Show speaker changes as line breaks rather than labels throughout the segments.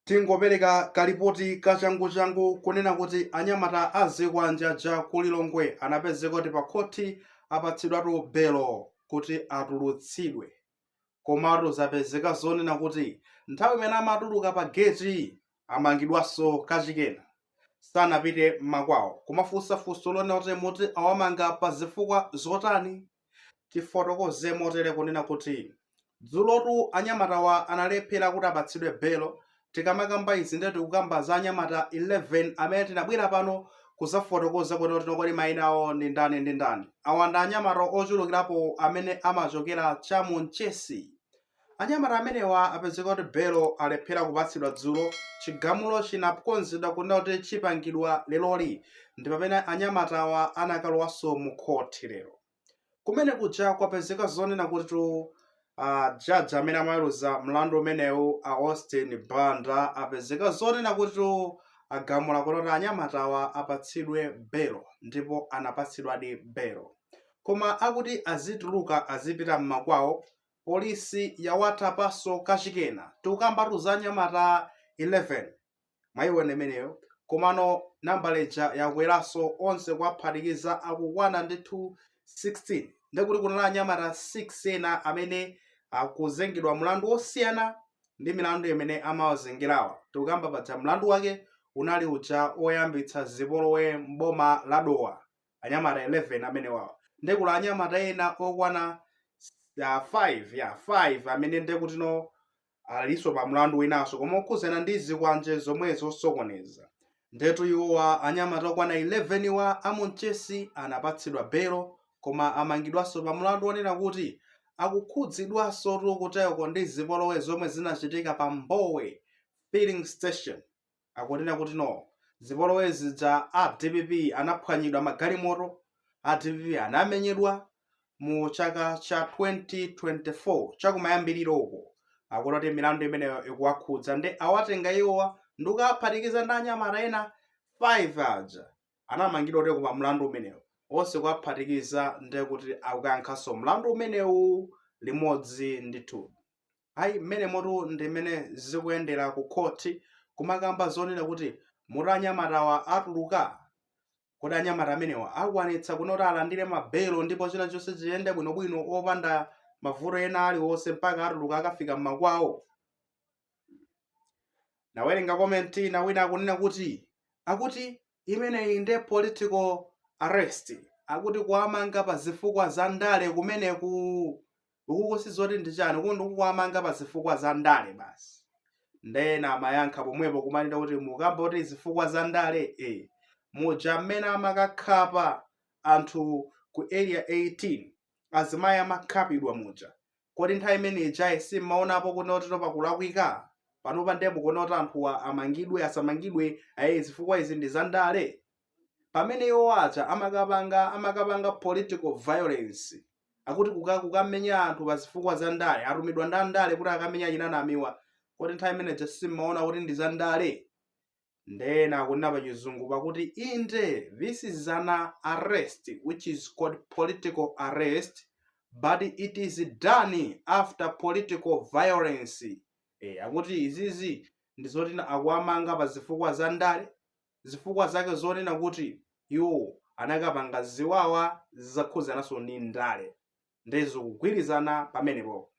Tingopereka kalipoti kachanguchangu kunena kuti anyamata a zikwanje aja ku Lilongwe anapezeka kuti pakhothi apatsidwatu belo kuti atulutsidwe. Komatu zapezeka zonena kuti nthawi imene amatuluka pageti amangidwanso kachikena. Sanapite mmakwawo kumafunsa funso lonena kuti moti awamanga pazifukwa zotani? Tifotokoze motere kunena kuti, dzulotu anyamatawa analephera kuti apatsidwe belo, tikamakamba izi ndiye tikukamba za anyamata 11 amene tinabwera pano kuzafotokoza kuti kodi maina awo ndi ndani ndi ndani. Awa ndi anyamata ochulukirapo amene amachokera cha mu Nchesi Anyamata amenewa apezeka kuti belo alephera kupatsidwa dzulo, chigamulo chinakonzedwa kunena kuti chipangidwa leroli ndipamene anyamatawa anakalowanso mu khothi lero. Kumene kuja kwapezeka zonena kutitu a judge amene amaweruza mlandu umenewu a Austin Banda apezeka zonena kutitu agamula kunena kuti anyamatawa apatsidwe belo ndipo anapatsidwadi belo. Koma akuti azituluka azipita mmakwawo Police yawatapaso kachikena tikukambatu za anyamata 11 mwaiwona imeneyo komano nambala ija yakweraso onse kuwaphatikiza akukwana 16 ndithu 16 ndekuti kunali anyamata 5 ena amene akuzengedwa mlandu osiyana ndi milandu imene amawazengerawa tikukamba paja mlandu wake unali uja oyambitsa zipolowe m'boma la Dowa. anyamata 11 amenewawa nde kuli anyamata ena okwana 5 ya 5 amene nde kuti alinso pa mlandu winanso koma okhuzana ndi zikwanje zomwezi zosokoneza ndetu iwowa anyamata okwana 11 wa a mu Nchesi anapatsidwa belo koma amangidwanso pa mlandu wonena kuti akukhudzidwanso tikuteko ndi zipolowe zomwe zinachitika pa mbowe filling station akunena kuti no zipolowe zija a dpp anaphwanyidwa magalimoto a dpp anamenyedwa mu chaka cha 2024 chakumayambiriro uko akunena kuti milandu imeneyo ikuwakhudza nde awatenga iwowa ndi kuwaphatikiza ndi anyamata ena 5 aja anamangidwa kutiko pa mlandu umenewu onse kuwaphatikiza nde kuti akukayankhanso mlandu umenewu limodzi ndithu ayi mmenemotu ndi mmene zikuyendera ku court kumakamba zonena kuti moti anyamatawa atuluka kodi anyamata amenewa akwanitsa kunena kuti alandire mabelo ndipo china chonse chiyende bwinobwino opanda mavuto ena aliwonse mpaka atuluka akafika mmakwawo nawerenga komenti ina wina akunena kuti akuti Imeneyi nde political arrest, akuti kuwamanga pa zifukwa za ndale kumeneku! Uku sizoti ndi chani, uku ndi kuwamanga pa zifukwa za ndale basi. Nde ena amayankha pomwepo kumanena kuti mukamba kuti zifukwa za ndale ee, muja mmene amakakhapa anthu ku area 18, azimayi amakhapidwa muja, Kodi nthawi imene ijayi simmaonapo kuti no pakulakwika? Panopa ndiye mukuona kuti anthuwa amangidwe, asamangidwe, ai zifukwa izi ndi za ndale? Pamene iwo aja amakapanga amakapanga political violence, akuti kukamenya anthu pa zifukwa za ndale, atumidwa ndi andale kuti akamenye achina Namiwa, kodi nthawi imene ija simmaona kuti ndi za ndale? Nde ena akunena pa chizungu pakuti inde this is an arrest which is called political arrest but it is done after political violence. Eh, akuti izizi ndi zoti na- akuwamanga pa zifukwa za ndale zifukwa zake zonena kuti iwo anakapanga ziwawa zakhudzananso ndi ndale. nde zikugwirizana pamenepo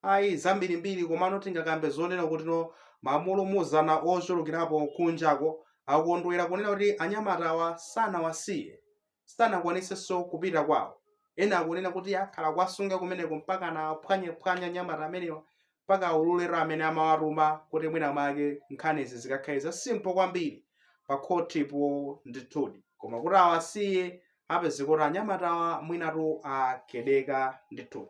ayi zambirimbiri komano tingakambe zonena kuti no mulimuzana ochulukirapo kunjako akondwera kunena kuti anyamatawa sanawasiye sanakwanisenso kupita kwawo ena akunena kuti akhala akuwasunga kumeneko mpaka na phwanyephwanya anyamata amenewa mpaka aulule amene amawatuma kuti mwina mwake nkhanizi zikakhale za simple kwambiri pa khotipo ndithudi koma kuti awasiye apezeka kuti anyamatawa mwinatu akedeka ndithudi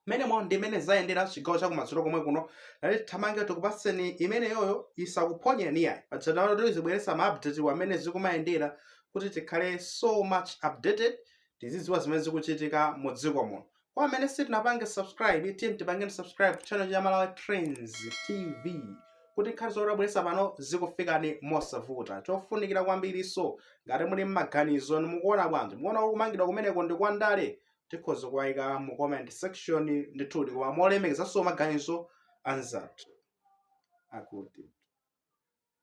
mmenemo ndi mmene zayendera chigawo chakummawatu komwe kuno ndati tithamange tikupatseni imeneyoyo isakuphonyeni ayi pazatano tizibweresa ma update a mmene zikumayendera kuti tikhale so much updated tizidziwa zimene zikuchitika mu dziko muno Kwa amene sitinapange subscribe, tiyeni tipange subscribe channel cha Malawi Trends TV kuti nkhani zomwe tabweretsa pano zikufikeni mosavuta. Chofunikira kwambirinso, ngati muli ndi maganizo inu mukuona bwanji, mukuona kuti kumangidwa kumeneko ndi kwa ndale, tikhoza kuwaika mu comment section ndithudi, koma molemekezanso maganizo a anzathu